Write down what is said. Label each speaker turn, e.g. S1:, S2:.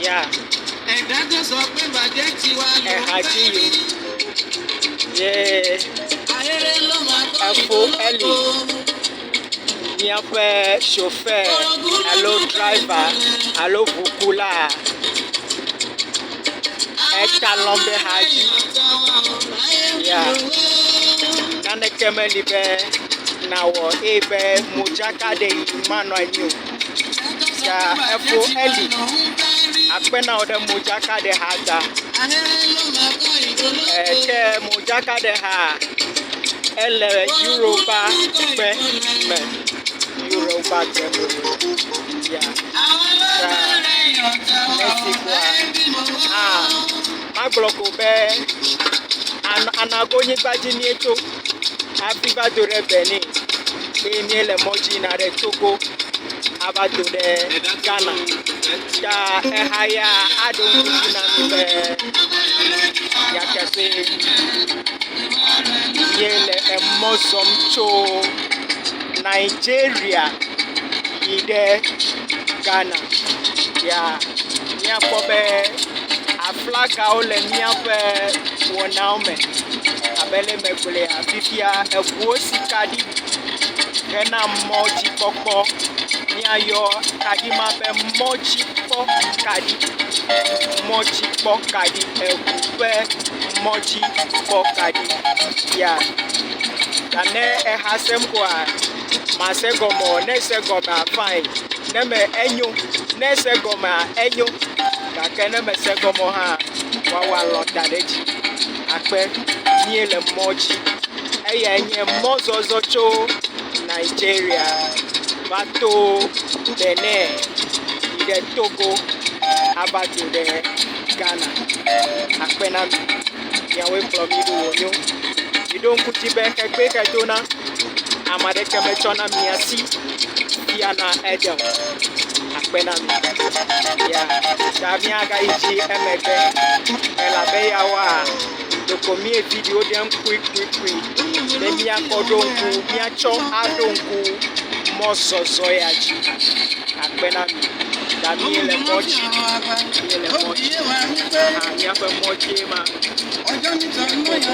S1: Ya. Ẹ̀dá tó sọ pé bàjẹ́ ti wá lò ó Ẹ̀ha tí yò. Yé. Ayẹyẹ ló máa tó Ẹ̀fọ́ ẹ̀lì. Míaƒe chauffeur alo driver alo ʋukula. Eta lɔ be ha dzi. Ya. Naneke meli be nàwɔ eye be modzaka ɖe yi manɔ anyi o. ta efo Eli akpe na wò ɖe modzakaɖeha ta. Ke modzakaɖeha ele Europa kpe me. Europa kpe me. Ya. Ta Mexikoa a magblɔ ko be an anagonyigba dzi míetso. hafi va do ɖe Benin eye míele mɔ dzi yina ɖe Togo ava do ɖe Ghana. Ta eha ya aɖo ŋkuti na mi be yakase míele emɔ zɔm tso Nigeria yi ɖe Ghana. Ya míakpɔ be. Flagawo le míaƒe wɔnawo me abe ale si megblɔ ene. Fifia eŋuwo si kaɖi hena mɔdzikpɔkpɔ. Míayɔ kaɖi ma be mɔdzikpɔkaɖi. Mɔdzikpɔkaɖi eŋu ƒe mɔdzikpɔkaɖi ya ta ne exa sem koa mase egɔme o ne ese egɔmea fine ne me enyo ne ese egɔmea enyo. gake ne mèse egɔme o hã, woawɔ alɔ̃ da ɖe edzi akpe mí le mɔ dzi. Eyae nye mɔzɔzɔ tso Nigeria va to Benin yi ɖe Togo ava dzo ɖe Ghana. Akpe na mi. Miawoe kplɔ mí ɖo wònyo. Miɖo ŋku dzi be xe kpui xe dona, ame aɖeke metsɔna mia si fiana eɖe o. Akpe na mi. Ya ta míagayi dzi emegbe elabe yewoa, ɖeko míevi ɖewo ɖem kpuikpuikpui. be míakɔ ɖo ŋku, míatsɔ aɖo ŋku mɔzɔzɔ ya dzi. Akpe na mi. Ta míele mɔ dzi. Míele mɔ dzi. Aha, míaƒe mɔ dzie ma. Míele mɔ dzi.